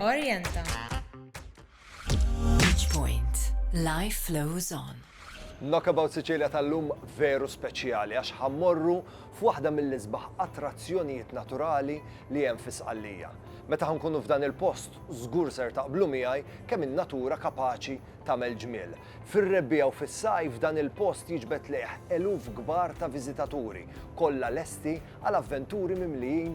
Orienta. Beach Point. Life flows on. Knockabout Sicilia tal-lum veru speċjali għax ħammorru f'waħda mill-isbaħ attrazzjonijiet naturali li hemm fi Sqallija. Meta ħankunu f'dan il-post, żgur ser taqblu miegħi kemm in-natura kapaċi tagħmel ġmiel. Fir-rebbiegħa u fis-sajf dan il-post jiġbed lejh eluf kbar ta' viżitaturi, kollha lesti għal avventuri mimlijin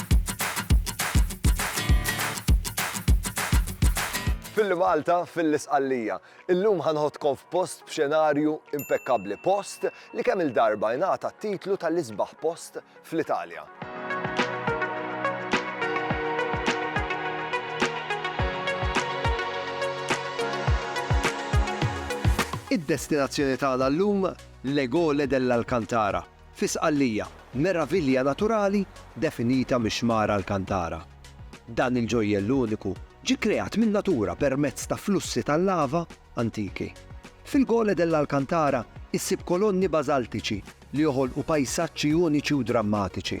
Filli Malta, fil-Isqallija. Illum ħa nħoddkom f'post b'xenarju impekkabbli, post li kemm il-darba jingħata t-titlu tal-isbaħ post fl-Italja. Id-destinazzjoni tagħna llum l-Egole dell'Alcantara, Fi Sqallija, meravilja naturali definita mix-xmara Alcantara. Dan il-ġojjell uniku ġie kreat min-natura permezz ta' flussi tal-lava antiki. Fil-Gole dell'Alcantara issib kolonni bażaltiċi li joħolqu pajsaġġi uniċi u drammatiċi.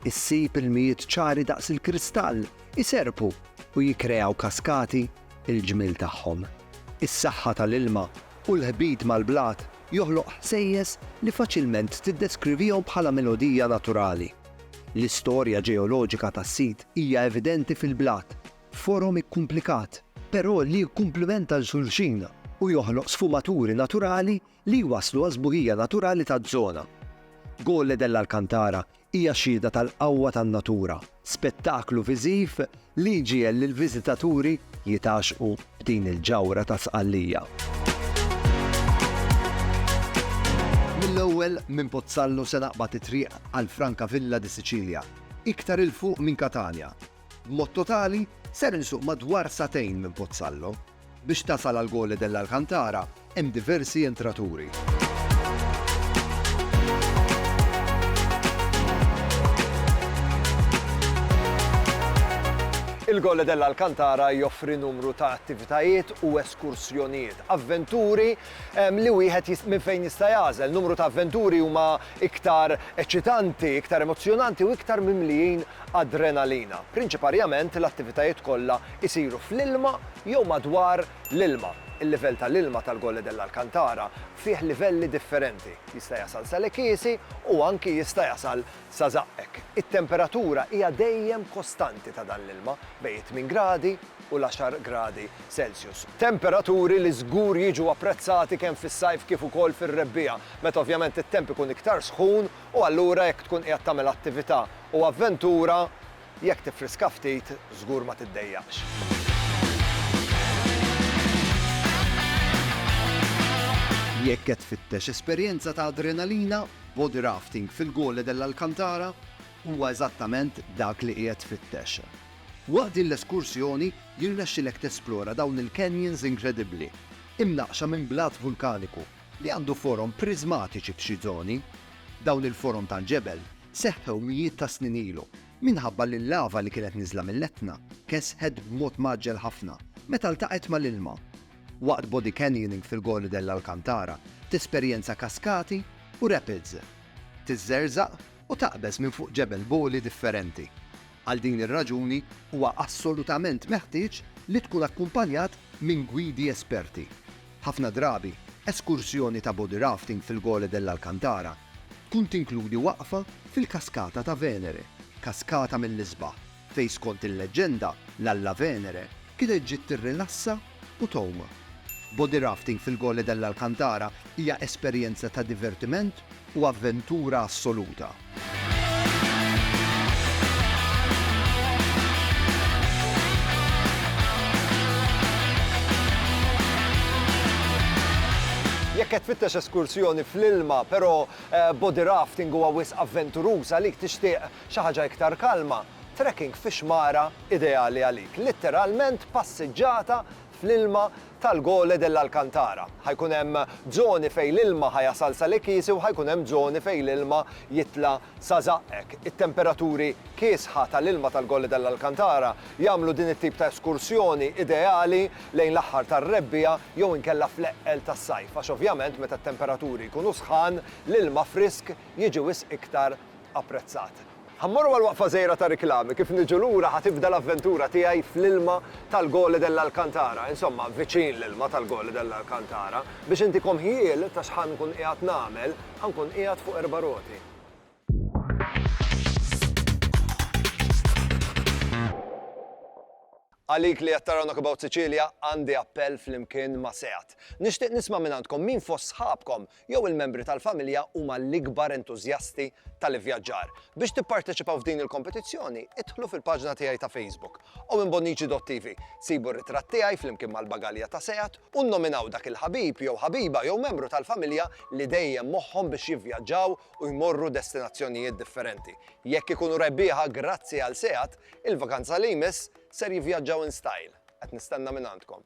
Issib ilmijiet ċari daqs il-kristall iserrpu u jikkreaw kaskati. Il-ġmiel tagħhom, is-saħħa tal-ilma u l-ħbit mal-blat joħloq ħsejjes li faċilment tiddeskrivihom bħala melodija naturali. L-istorja ġeoloġika tas-sit hija evidenti fil-blat, forom ikkumplikat, però li jikkumplimenta 'l xulxin u joħloq sfumaturi naturali li jwasslu għaż-żburija naturali taż-żona. Gole dell' Alcantara hija xhieda tal-qawwa tan-natura, spettaklu viżiv li jġiegħel lill-viżitaturi jitgħaxxqu b'din il-ġawhra ta' Sqallija. Mill-ewwel minn Pozzallo se naqbad it-triq għal Francavilla di Sicilia, iktar 'il fuq minn Catania. B'mod totali, ser insuq madwar sagħtejn minn Pozzallo. Biex tasal għal Gole dell' Alcantara hemm diversi entraturi. Il-Gole dell' Alcantara joffri numru ta' attivitajiet u eskursjonijiet, avventuri li wieħed minn fejn jista' jagħżel. Numru ta' avventuri huma iktar eċċitanti, iktar emozzjonanti u iktar mimlijin adrenalina. Prinċiparjament l-attivitajiet kollha isiru fl-ilma jew madwar l-ilma. Il-livell ta' l-ilma tal-Gole dell'Alcantara fih livelli differenti, jista' jasal sa Le Chiesi u anki jista' jasal sa żaqqek. It-temperatura hija dejjem kostanti ta' dan l-ilma bejn it-tmien gradi u l-għaxar gradi Celsius. Temperaturi li żgur jiġu apprezzati kemm fis-sajf kif ukoll fir-rebbiegħa, meta ovvjament it-temp ikun iktar sħun u allura jekk tkun qiegħed tagħmel attività u avventura, Jekk tiffriska ftit, żgur ma tiddejjaqx. Jekk qed tfittex esperjenza ta' adrenalina, body rafting fil-Gole dell'Alcantara huwa eżattament dak li qiegħed tfittex. Waqt din l-eskursjoni jirnexxilek tesplora dawn il-canyons inkredibbli, imnaqqxa minn blat vulkaniku li għandu forom priżmatiċi f'xi żoni. Dawn il-forom tal-ġebel seħħew mijiet ta' snin ilu, minħabba li l-lava li kienet niżla mill-Etna kesħet b'mod mgħaġġel ħafna meta ltaqgħet mal-ilma. Waqt body canyoning fil-Gole dell'Alcantara, tesperjenza kaskati u rapids, tiżżerżaq u taqbeż minn fuq ġebel bogħli differenti. Għal din ir-raġuni, huwa assolutament meħtieġ li tkun akkumpanjat minn gwidi esperti. Ħafna drabi, eskursjoni ta' body rafting fil-Gole dell'Alcantara tkun tinkludi waqfa fil-Kaskata ta' Venere, kaskata mill-isbaħ, fejn skont il-leġġenda, l-alla Venere kienet ġiet tirrilassa u togħma. Body rafting fil-Gole dell'Alcantara hija esperjenza ta' divertiment u avventura assoluta. Jekk qed tfittex eskursjoni fl-ilma, però body rafting huwa wisq avventuruż għalik, tixtieq xi ħaġa iktar kalma, Trekking fi xmara ideali għalik, litteralment passiġġata fl-ilma tal-Gole dell'Alcantara. Ħa jkun hemm żoni fejn l-ilma ħa jasal sa l-ikiesi u ħa jkun hemm żoni fejn l-ilma jitla' sa żaqqek. It-temperaturi kiesħa tal-ilma tal-Gole dell'Alcantara jagħmlu din it-tip ta' eskursjoni ideali lejn l-aħħar tar-rebbiegħa jew inkella fl-eqqel tas-sajf għax ovvjament meta t-temperaturi jkunu sħan l-ilma frisk jiġi wisq iktar apprezzat. Ħa mmorru għal waqfa żgħira ta' riklami, kif niġu lura ħa tibda l-avventura tiegħi fl-ilma tal-Gole dell'Alcantara, insomma, viċin l-ilma tal-Gole dell'Alcantara. Biex intikom ħjiel ta' x'ħa nkun qiegħed nagħmel, ħa nkun qiegħed fuq erba' roti. Għalik li qed taraw Knock About Sicilia, għandi appell flimkien ma' Seat. Nixtieq nisma' mingħandkom min fost sħabkom jew il-membri tal-familja huma l-ikbar entużjasti tal-ivvjaġġar. Biex tipparteċipaw f'din il-kompetizzjoni, idħlu fil-paġna tiegħi ta' Facebook, owenbonnici.tv, sibu r-ritratt tiegħi flimkien mal-bagalja ta' Seat u nnominaw dak il-ħabib jew ħabiba jew membru tal-familja li dejjem moħħhom biex jivvjaġġaw u jmorru destinazzjonijiet differenti. Jekk ikunu rebbieħa grazzi għal Seat, il-vakanza li jmiss ser jivvjaġġaw in style. Qed nistenna mingħandkom.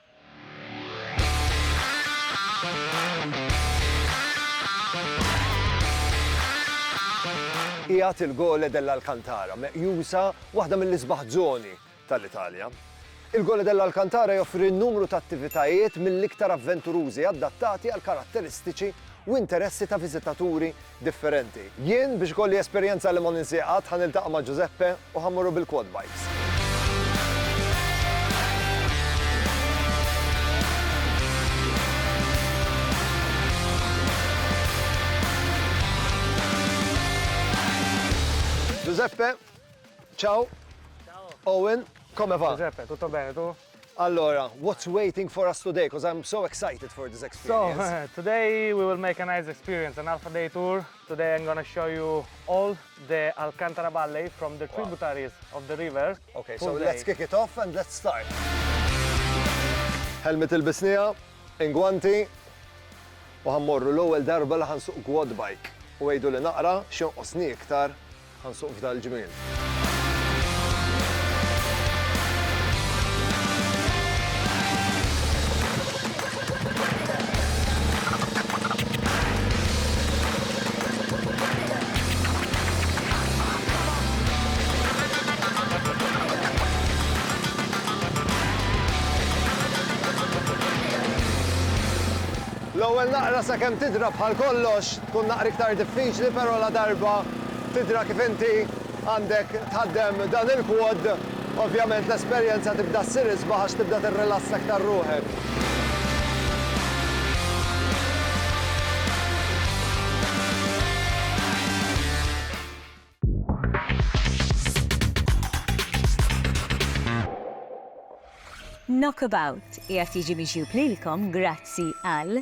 Qiegħed il-Gole dell'Alcantara, meqjusa waħda mill-isbaħ żoni tal-Italja. Il-Gole dell'Alcantara joffri numru ta' attivitajiet mill-iktar avventurużi adattati għall-karatteristiċi u interessi ta' viżitaturi differenti. Jien, biex ikolli esperjenza li ma ninsiha qatt, ħa niltaqa' ma' Giuseppe u ħa mmorru bil-quad bikes. Giuseppe, ciao. Ciao. Owen, come va? Giuseppe, tutto bene, tu? Allora, what's waiting for us today, coz I'm so excited for this experience. So, today we will make a nice experience, an Alpha Day tour. Today I'm gonna show you all the Alcantara Valley from the tributaries of the river. Okay, so let's kick it off and let's start. Helmet il-bisnija, ingwanti, u ħammorru l-ewwel darba li ħansuq quad bike u għidu li naqra xinqosni iktar Ħa nsuq f'dal-ġmiel. L-ewwel naqra sakemm tidra bħal kollox. Tkun daqqa iktar diffiċli però ladarba tidra kif inti għandek tħaddem dan il-quad, ovvjament l-esperjenza tibda ssir isbaħ għax tibda tirrilassa iktar ruħek. Knockabout qiegħed jiġi miġjub lilkom grazzi għal.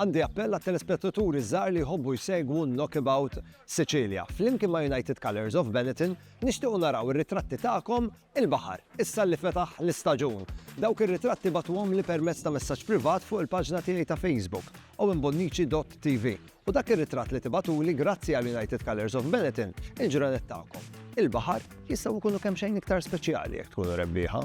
Għandi appell għat-telespettaturi ż-żgħar li jħobbu jsegwu Knockabout Sicilia. Flimkien ma' United Colours of Benetton, nixtiequ naraw ir-ritratti tagħkom il-baħar, issa li fetaħ l-istaġun. Dawk ir-ritratti bagħtuhomli permezz ta' messaġġ privat fuq il-paġna tiegħi ta' Facebook, owenbonnici.tv, u dak ir-ritratt li tibagħtuli grazzi għal United Colours of Benetton, il-ġranet tagħkom, il-baħar, jistgħu jkunu kemxejn iktar speċjali jekk tkunu rebbieħa.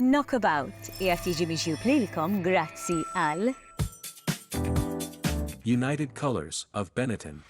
Knockabout qiegħed jiġi miġjub lilkom grazzi għal United Colours of Benetton.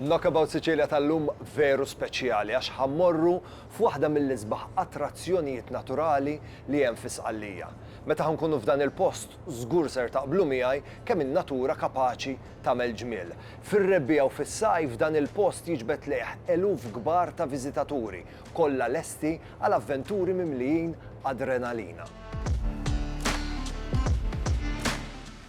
Knockabout Sicilia tal-lum veru speċjali għax ħa mmorru f'waħda mill-isbaħ attrazzjonijiet naturali li hemm fi Sqallija. Meta ħa nkunu f'dan il-post żgur ser taqblu miegħi kemm in-natura kapaċi tagħmel ġmiel. Fir-rebbiegħa u fis-sajf dan il-post jiġbed lejh eluf kbar ta' viżitaturi, kollha lesti għal avventuri mimlijin adrenalina.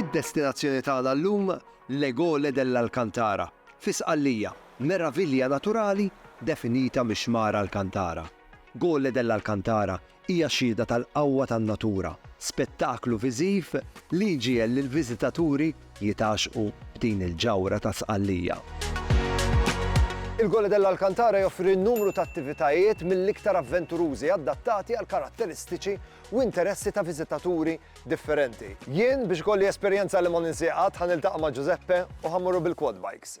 Id-destinazzjoni tagħna llum, L'Egole dell'Alcantara, fi Sqallija, meravilja naturali definita mix-xmara Alcantara. Gole dell'Alcantara Hija xhieda tal-qawwa tan-natura, spettaklu viżiv li jġiegħel lill-viżitaturi jitgħaxxqu b'din il-ġawhra ta' Sqallija. Il-Gole dell' Alcantara joffri numru ta' attivitajiet mill-iktar avventurużi adattati għall-karatteristiċi u interessi ta' viżitaturi differenti. Jien, biex ikolli esperjenza li ma ninsieha qatt, ħa niltaqa' ma' Giuseppe u ħa mmorru bil-quad bikes.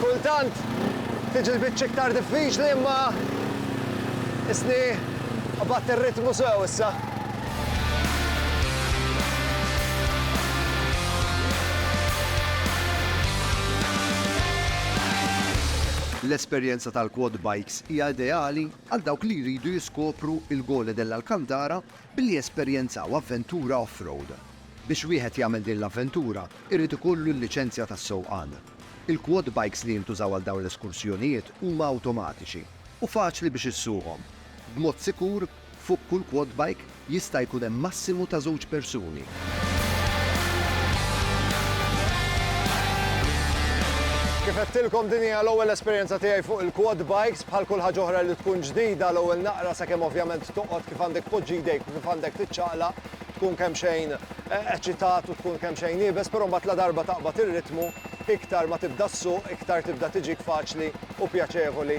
Kultant tiġi l-biċċa iktar diffiċli imma isni qabadt ir-ritmu sew issa. L-esperjenza tal-quad bikes hija ideali għal dawk li jridu jiskopru il-Gole dell'Alcantara billi jesperjenzaw avventura off-road. Biex wieħed jagħmel din l-avventura jrid ikollu l-liċenzja tas-sewqan. Il-quad bikes li jintużaw għal dawn l-eskursjonijiet huma awtomatiċi u faċli biex issuqhom, b'mod sikur Fuq kull quad bike jista' jkun hemm massimu ta' żewġ persuni. Kif għedtilkom din hija l-ewwel esperjenza tiegħi fuq il-quad bikes, bħal kull ħaġa oħra li tkun ġdida l-ewwel naqra sakemm ovvjament toqgħod kif għandek tpoġġi jdejk u kif għandek tiċċaqlaq tkun kemmxejn eċitat u tkun kemmxejn iebes, però mbagħad ladarba taqbad ir-ritmu iktar ma tibda ssuq iktar tibda tiġik faċli u pjaċevoli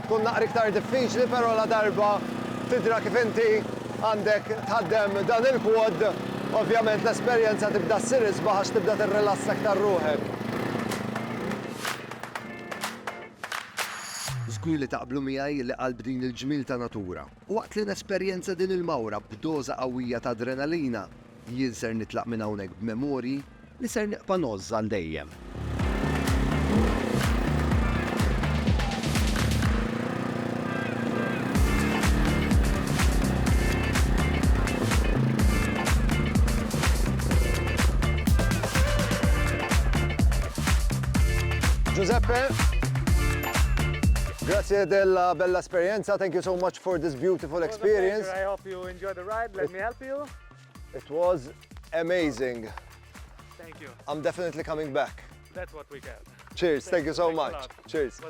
Tkun naqra iktar diffiċli però ladarba tidra kif inti għandek tħaddem dan il-quad, ovvjament l-esperjenza tibda ssir isbaħ għax tibda tirrilassa iktar ruħek. Żgur li taqblu miegħi li qalb din il-ġmiel ta' natura. Waqt li nesperjenza din il-mawra b'doża qawwija ta' adrenalina, jien ser nitlaq minn hawnhekk b'memorji, Li ser nibqa' ngħożż għal dejjem. Ġużeppe, grazzi della bella esperjenza. Thank you so much for this beautiful experience. Thank you, I hope you enjoy the ride. Let me help you. It was amazing. Thank you. I'm definitely coming back. That's what we get. Cheers, thank you so much. Cheers.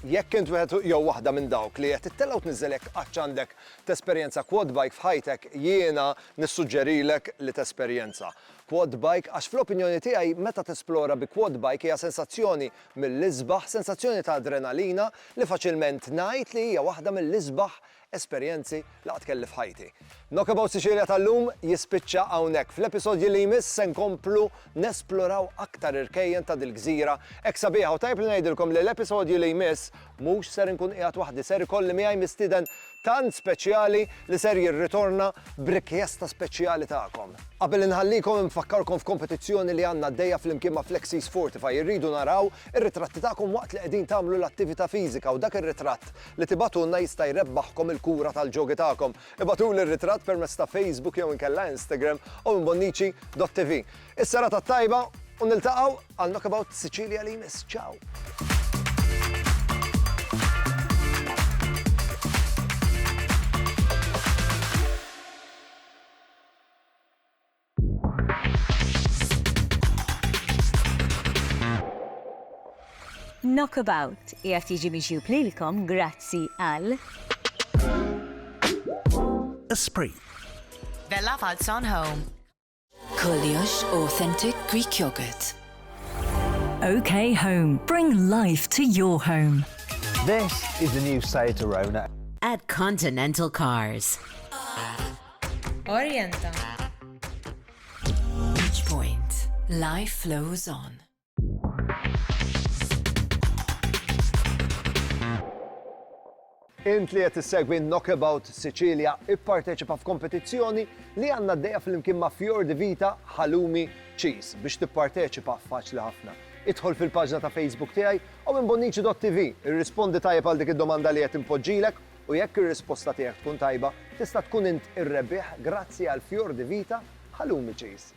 Jekk int wieħed jew waħda minn dawk li qed tittelgħu tniżżelek qatt għandek tesperjenza quad bike f'ħajtek, jiena nissuġġerilek li tesperjenza quad bike għax fl-opinjoni tiegħi meta tesplora bi quad bike hija sensazzjoni mill-isbaħ, sensazzjoni ta' adrenalina li faċilment ngħid li hija waħda mill-isbaħ esperjenzi li qatt kelli f'ħajti. Knockabout Sicilia tal-lum jispiċċa hawnhekk. Fl-episodji li jmiss se nkomplu nesploraw aktar irkejjen ta' dil-gżira hekk sabiħa u tajjeb li ngħidilkom li l-episodju li jmiss mhux ser inkun qiegħed waħdi ser ikolli miegħi mistieden tant speċjali li ser jirritorna b'rikjesta speċjali tagħkom. Qabel inħallikom infakkarkom f'kompetizzjoni li għandna għaddejja flimkien ma' Flexies Fortify irridu naraw ir-ritratti tagħkom waqt li qegħdin tagħmlu l-attività fiżika u dak ir-ritratt li tibgħatulna jista' jrebbaħkom il-kura tal-ġogi tagħkom. Ibgħatuli r-ritratt permezz ta' Facebook jew inkella Instagram owenbonnici.tv. Is-serata t-tajba u niltaqgħu għal Knockabout Sicilia li jmiss. Ciao! Knockabout qiegħed jiġi miġjub lilkom grazzi għal. Esprit. Bella Falzon Home. Kollox Authentic Greek Yogurt. OK Home. Bring life to your home. This is the new Seat Arona. At Continental Cars. Orienta. Each point. Life flows on. Int li qed issegwi Knockabout Sicilia ipparteċipa f'kompetizzjoni li għandna d-dejja fl-imkien ma' Fjord di Vita Halumi Cheese biex tipparteċipa faċli ħafna. Idħol fil-paġna ta' Facebook tiegħi u minn Bonnici.tv irrispondi tajjeb għal dik id-domanda li qed impoġġilek U jekk ir-risposta tiegħek tkun tajba, tista' tkun int ir-rebbieħ grazzi għal Fior di Vita Halloumi Cheese.